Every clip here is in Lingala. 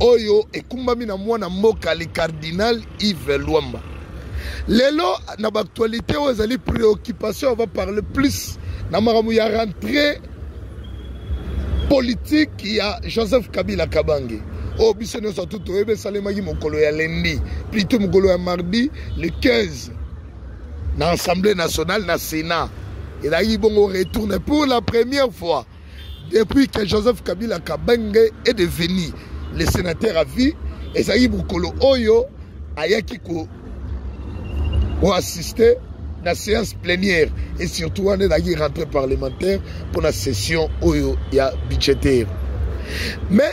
oyo ekumbami na mwana mboka le cardinal Yves Luamba. Lelo na actualité oyo ezali préoccupation va parler plus na makambo ya rentrée politique ya Joseph Kabila Kabange oyo oh, biso nyonso tu toyebi esalemaki mokolo ya lendi plutôt mokolo ya mardi le 15 na assemblée nationale na sénat ezalaki bongo retourne pour la première fois Depuis que Joseph Kabila Kabenge est devenu le sénateur à vie, ezali mokolo oyo ayaki ko assister la séance plénière et surtout on est dans une rentrée parlementaire pour la session oyo ya budgétaire. Mais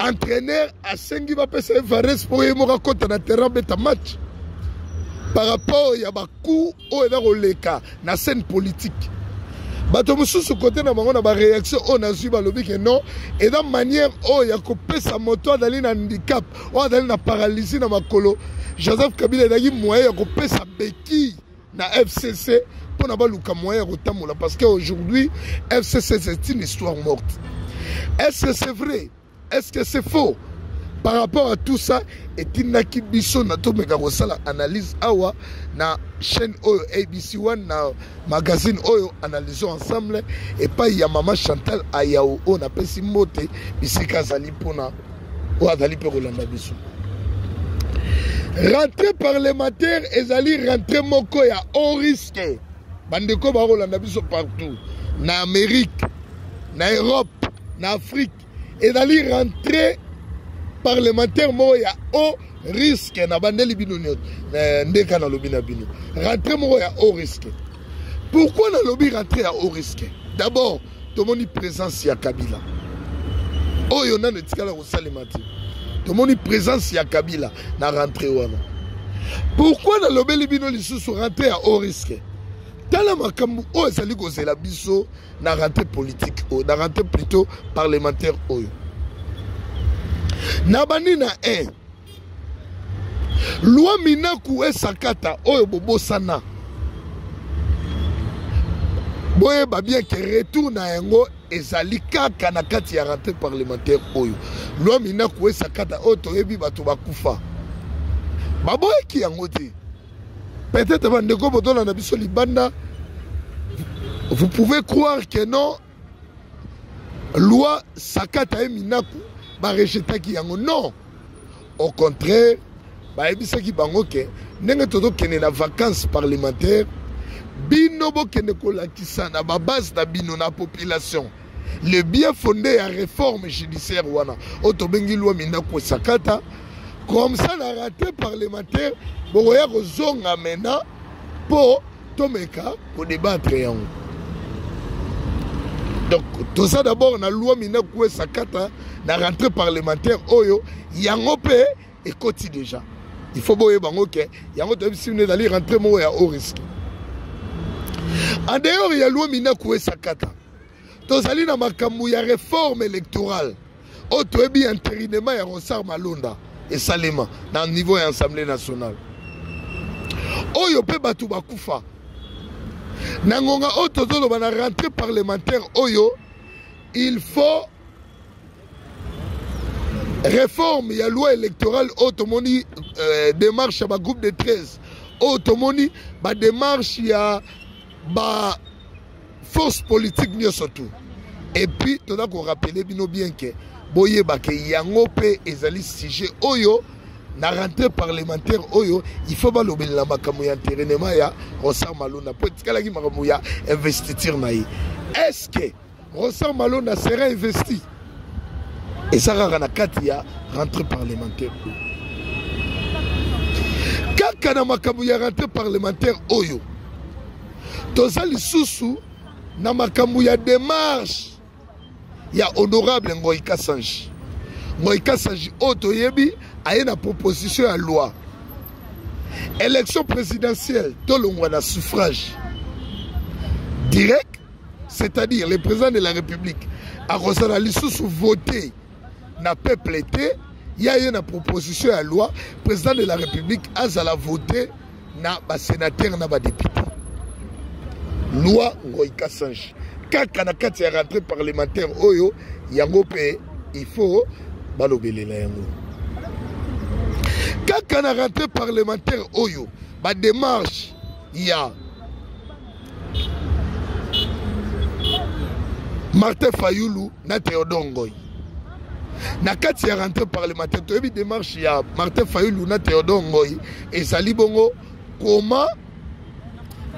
entraîneur asengi bapesa ye vares mpo ye moko akɔta na terrain abeta match par rapport ya bacout oyo eza koleka na scène politique bato mosusu kote na bango na bareaction oyo nazwi balobi ke non eza manière oyo ya kopesa moto azali na handicap oyo azali na paralysie na makolo joseph kabila ezalaki moyen ya kopesa beki na fcc mpo na baluka moyen ya kotambola parce que aujourd'hui fcc c'est une histoire morte est ce que c'est vrai est ce que c'est faux par rapport à tout ça etindaki biso na tomeka kosala analyse awa na chaîne oyo abc one na magazine oyo analysons ensemble epai ya mama chantal ayao oyo napesi mbote bisika azali mpona oyo azali mpe kolanda biso rentrée parlementaire ezali rentrée moko ya haut risque bandeko bakolanda biso partout na amérique na europe na afrique ezali rentrée parlementaire moko ya haut risque nabandeli bino nyonso eh, ndeka nalobi na bino rentrée moko ya haut risque pourquoi nalobi rentrée ya haut risque d'abord tomoni presence ya kabila oyo nano etikala kosalema te tomoni presence ya kabila na rentre wana pourkui nalobeli bino lisusu rentre ya haut risque tala makambo oyo ezali kozela biso na rentre politique oyo na rentre plutôt parlementaire oyo na bandi na 1 loi minaku esakata oyo bobosana boyeba bien ke retour na yango ezali kaka na kati ya rentrée parlementaire oyo loi minaku esakata oyo toyebi bato bakufa baboyaki yango te peut-être bandeko botolanda biso libanda vous pouvez croire que non loi sakata ye minaku barejetaki yango non au contraire bayebisaki bango ke ndenge tozokende na vacances parlementaire bino bokende kolakisa na babase na bino na population le bien fonde ya réforme judiciaire wana oyo tobengi lwa minaku esakata comme ça na rate parlementaire bokoya kozonga maintenant mpo tomeka ko debattre yango donc toza d'abord na loi mina kuesa kata na rentrée parlementaire oyo yango mpe ekoti déjà il faut boyeba yango ke yango toyebisi bino ezali rentrée moko ya haut risque en dehors ya loi mina kuesa kata tozali na makambo ya reforme électorale oyo toyebi interinema ya rosar malonda esalema na niveau ya assemblée nationale oyo mpe bato bakufa na ngonga oyo tozoloba na rentrée parlementaire oyo il faut réforme ya loi électorale oyo tomoni euh, démarche ya bagroupe de 13 oyo tomoni badémarche ya ba force politique nyonso tu epuis toza korapele bino bien ke boyeba ke yango mpe ezali sujet oyo na rentrée parlementaire oyo il faut balobelela makambo ya enterainement ya rosar malona mpo etikalaki makambo ya investiture na ye est ce que rosar malona sera investi eza kaka na kati ya rentrée parlementaire oyo kaka na makambo ya rentrée parlementaire oyo toza lisusu na makambo ya demarche ya honorable ngoi kasanji ngoi kasanji oyo toyebi aye na proposition ya loi élection présidentielle tolongwa na suffrage direct c'est-à-dire le président de la république akozala lisusu vote na peuple te ya ye na proposition ya loi président de la république azala vote na basénateur na badepute loi ngoi kasange kaka na kati ya rentrée parlementaire oyo yango mpe il faut balobelela yango kaka na rentrée parlementaire oyo bademarche ya martin fayulu na theodore ngoy na kati ya rentrée parlementaire toyebi démarche ya martin fayulu na theodore ngoy ezali bongo comment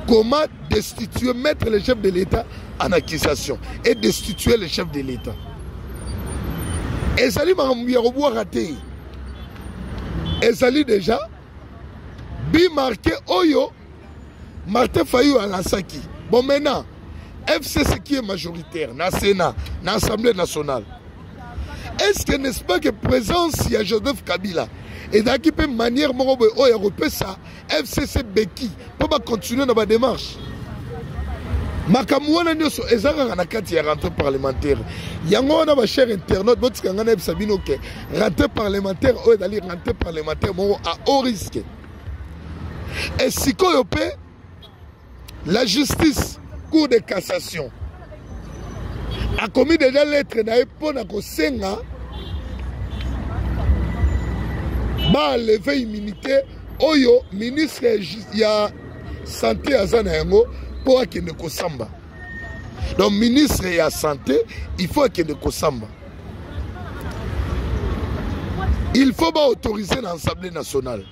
comment destituer mettre le chef de l'état en accusation et destituer le chef de l'état ezali makambo ya kobwaka te ezali déjà bimarke oyo Martin Fayou à la Saki. Bon, maintenant, FCC qui est majoritaire, na Sénat, na Assemblée nationale. Est-ce que n'est-ce pas que présence il y a Joseph Kabila et dans qui peut manière mon robot oh, il y ça, FCC Becky, pour continuer dans ma démarche. makambo wana nyonso eza kaka na kati ya rentrée parlementaire yango wana bachere internaute botika ngai nayebisa bino ke rentrée parlementaire oyo ezali rentrée parlementaire moko a haut risque e sikoyo mpe la justice cour de cassation akomi deja lettre na ye mpo na kosenga baaleve immunité oyo ministre ya sante aza na yango mpo akende kosamba donc ministre ya santé il faut akende kosamba il faut baautoriser na assemblée nationale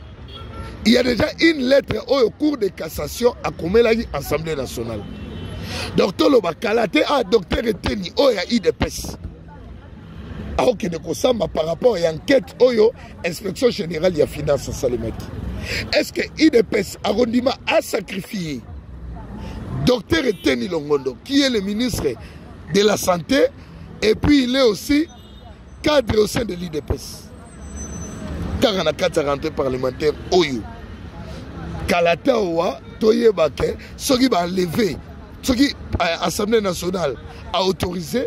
il y a déjà une lettre oyo cour de cassation akomelaki assemblée nationale donc toloba kala te ah docteur eteni oyo ya idps akokende kosamba par rapport ya enquête oyo inspection générale ya finance asalemaki est ce que idps akondima asacrifie docteur eteni longondo qui est le ministre de la santé et puis il est aussi cadre au sein de l'idps kaka na kati ya rentrée parlementaire oyo kala te awa toyeba ke soki baaleve soki euh, assemblée nationale aautorise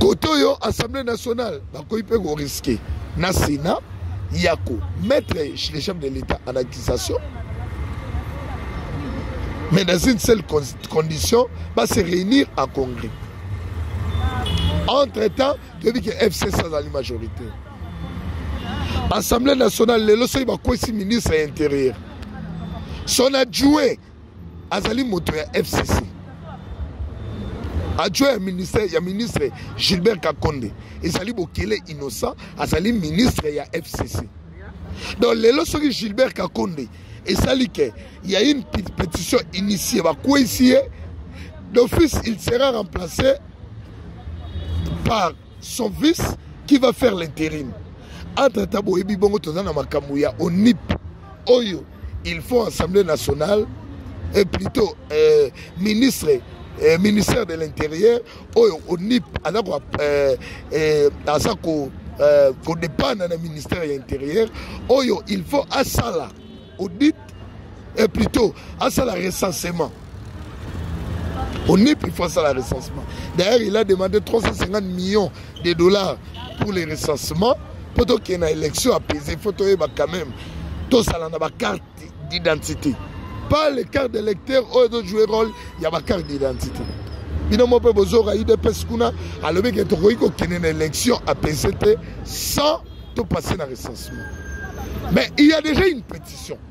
kote oyo assemblée nationale bakoki mpe koriske na sénat ya komettre le chef de l'état en accusation mais dans une seule condition va se réunir en congrès entre temps toyebi ke fcc azali majorité assemblée nationale lelo soki bakwesi ministre ya intérieur son adjoint azali moto ya fcc adjoint ya ministère ya ministre gilbert kakonde ezali bokele innocent azali ministre ya fcc donc lelo soki gilbert kakonde esali ke ya une pétition initie bakweisi ye d'office il sera remplacé par son fils qui va faire l'intérim entre ta boyebi bongo toza na makambo ya onip oyo il faut assemblée nationale et plutôt euh, ministre euh, ministère de l'intérieur oyo onip aza ko euh, euh, aza ko euh, kodépendre na ministère ya intérieur oyo il faut asala audit et plutôt asala recensement onip il faut asala recensement d'ailleurs il a demandé 350 millions des dollars pour les recensements mpo tokende na élection apaisé il faut toyeba quand même tosala na bacarte d'identité pas les cartes d'électeur oyo ezojouer rôle ya bacarte d'identité bino mo mpe bozoka udps kuna alobi ke tokoki kokende na élection apaisé te sans topasse na recensement mais il y a déjà une pétition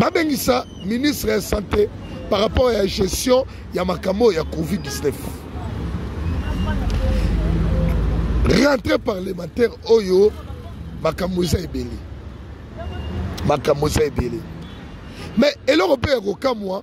babengisa ministre ya sante par rapport ya gestion ya makambo ya covid-19 rentrée parlementaire oyo makambo eza ebele makambo eza ebele mais eloko mpe ya kokamwa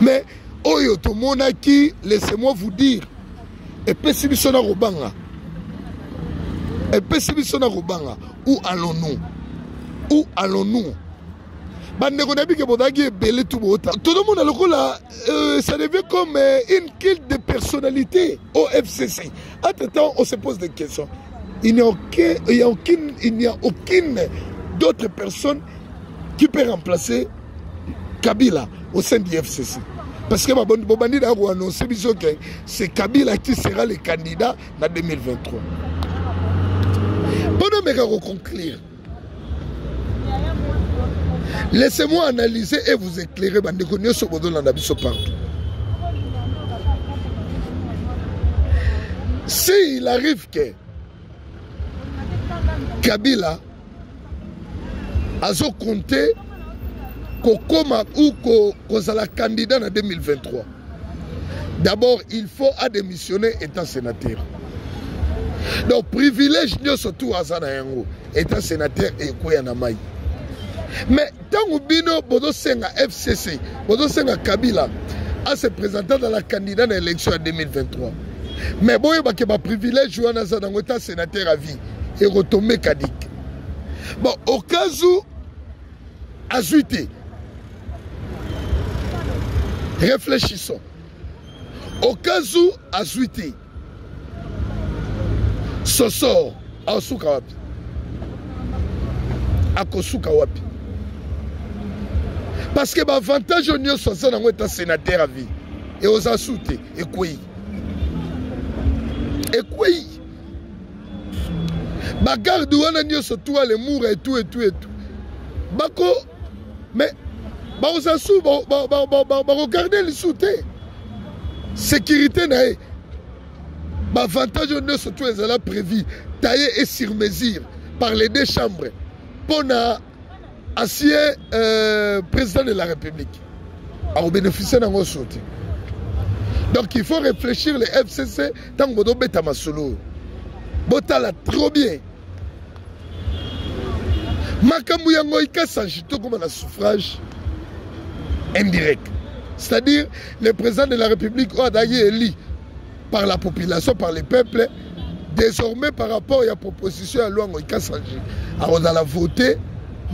mais oyo tomonaki laissez-moi vous dire epesi biso na kobanga epesi biso na kobanga où allons-nous où allons-nous bandeko na bike bozalaki ebele tu bota tozomona lokola euh, ça devient comme euh, une culte de personnalité au fcc entre temps on se pose des questions il n'y a aucun il n'y a aucune il n'y a aucune d'autres personnes qui peut remplacer kabila au sein du fcc parce que bobandi na koannonce biso ke c'est kabila qui sera le candidat na 2023 mpo nomeka koconclure laissez-moi analyser et vous éclairer bandeko nyonso bozolanda biso partout s'il arrive que kabila azokonte kokoma ou ko, kozala candidat na 2023 d'abord il faut adémissionner étant sénateur donc privilège nyonso tu aza na yango étant sénateur ekweya na mai mais Tango bino bozo senga FCC, bozo senga Kabila a se présenter dans la candidat na élection ya 2023. Mais boye ba ke ba privilège wana za nango ta sénateur à vie et retomber Kadik. Bon, au cas où azui te. Réfléchissons. Au cas où azui te. soso aosuka wapi akosuka wapi parce que baavantage oyo nyonso aza nango eta sénateur a vie e oza su te ekwei ekwei bagarde wana nyonso tuale mura etu etu etu bako mais bakozala su bakogarde lisusu te sécurité na ye baavantage oyo nyonso to ezala prévu taille et sur mesure par les deux chambres mpo na asie euh, président de la république akobénéficie na yango so te donc il faut réfléchir le fcc ntango bozobeta masolo oyo botala trop bien makambo yango ikasange tokoma na suffrage indirect c'est-à-dire le président de la république oyo azalaki eli par la population par le peuple désormais par rapport ya proposition ya lwango ikasange akozala vote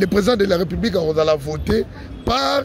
le président de la république akozala vote par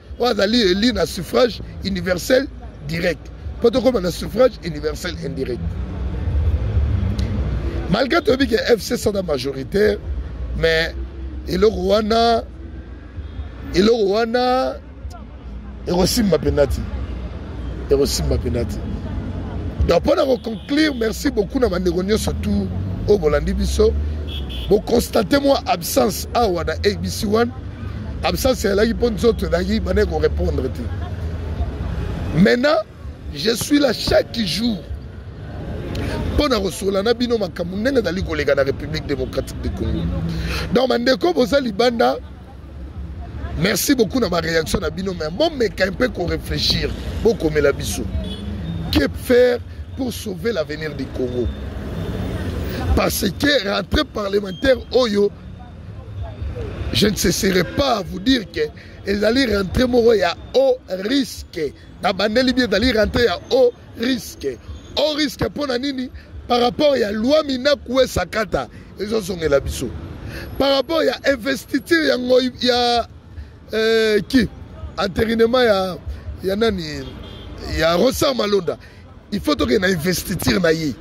oyo azali eli na suffrage universel direct mpo tokóma na suffrage universel indirect malgré toyebi ke fc sada majoritaire mais eloko wana eloko wana ekosimba mpenza te ekosimba mpenza te donc mpo na koconclure merci beaucoup na bandeko nyonso tout oyo bolandi biso bokonstate mwa absence awa na abc 1 absence ezalaki mpo nzoto ezalaki bana korepondre te maintenant je suis là chaque jour mpo na kosolola na bino makambo ndenge ezali koleka na république démocratique de congo donc bandeko boza libanda merci beaucoup na baréaction na bino mai bomeka mpe korefléchir bokomela biso que faire pour sauver l'avenir du congo parce que rentrée parlementaire oyo je ne cesserai pas à vous dire que ezali rentré moko ya haut risque na bandeli bi ezali rentré ya haut risque haut risque mpo na nini par rapport ya loi minaku esakata ezozongela biso par rapport ya investiture ya ngoi ya euh, ki enterinement ya ya nani ya rosa malonda il faut tokende na investiture na ye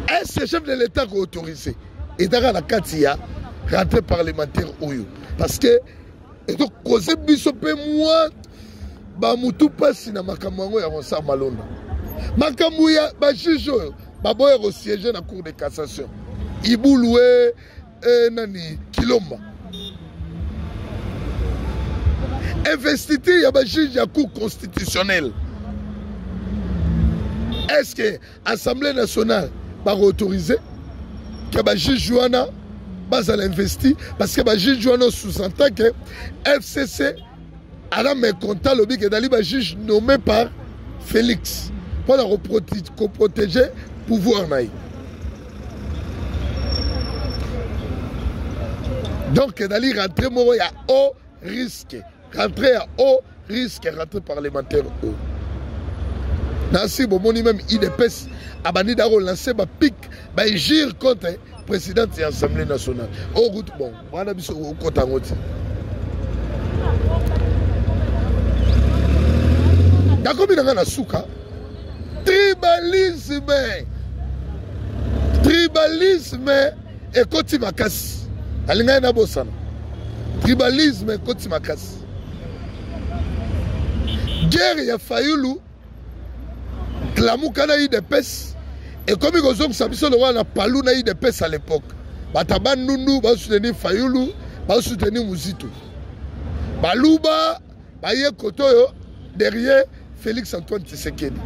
est-ce chef de l'état ko autorise etaka na kati ya rentrée parlementaire oyo parce que ekokoze biso mpe mwa bamutu mpasi na makambo yango ya concert malonda makambo ya bajuge oyo baboya kosiege na cour de cassation ibulue eh, nani kilomba investiture ya bajuge ya cour constitutionnelle est ce que assemblée nationale bakoautorise ke bajuge wana bazala investi parce que bajuge wana sous-entend ke fcc aza mécontent alobi ke ezali bajuge nommé par félix mpo na koprotege pouvoir na ye donc ezali rentré moko ya haut risque rentré ya haut risque rentré parlementaire oyo nasi bomoni meme idps abandi da kolancer bapic baegire contre présidente ya assemblée nationale oyo kutu bongo wana biso okota yango ti nakomi na ngai na suka tribalisme tribalisme ekoti makasi alingaki nabosana tribalisme ekoti makasi guerre ya fayulu lamuka na udps ekomi kozongisa biso lokola na palu na udps à l'époque bato ya bandundu basoutenir fayulu basoutenir muzitu baluba baye kote oyo derrière félix antoine tshisekedi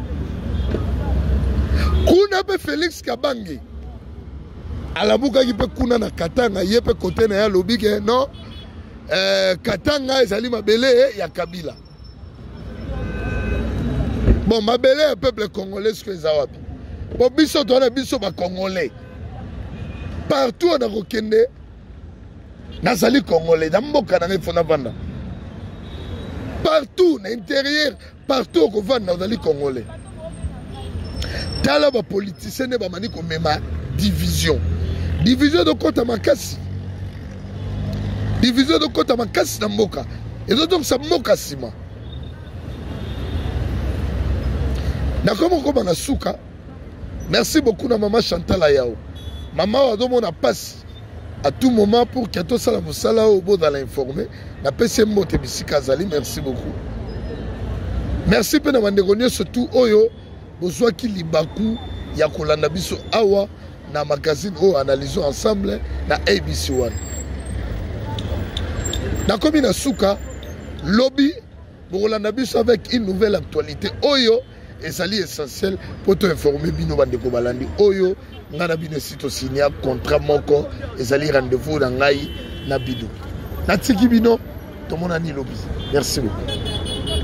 kuna mpe félix kabange alabukaki mpe kuna na katanga ye mpe kote na ye alobi ke non eh, katanga ezali mabele ya kabila bon mabele ya peuple congolais soki eza wapi po biso toza na biso bacongolais partout oyo nakokende nazali congolais na mboka na ngai fo navanda partout na interieur partout okofanda ozali congolais tala bapolitisien nde bamani komema division division ezokɔta makasi division ezokɔta makasi na mboka ezozongisa mboka nsima nakomi kokoma na suka merci beaucoup na mama chantal ayao mama oyo azomona mpasi à tout moment pour que tosala mosala oyo bozala informe napesi ye mbote bisika azali merci beaucoup merci mpe na bandeko nyonso tu oyo bozwaki libaku ya kolanda biso awa na magazine oyo analysons ensemble na abc wana nakomi na suka lobi bokolanda biso avec une nouvelle actualité oyo ezali essentiel mpo toinforme bino bandeko balandi oyo ngai na bino esi tosinia contrat moko ezali rendez-vous na ngai na bino natiki bino tomonani lobi merci beaucoup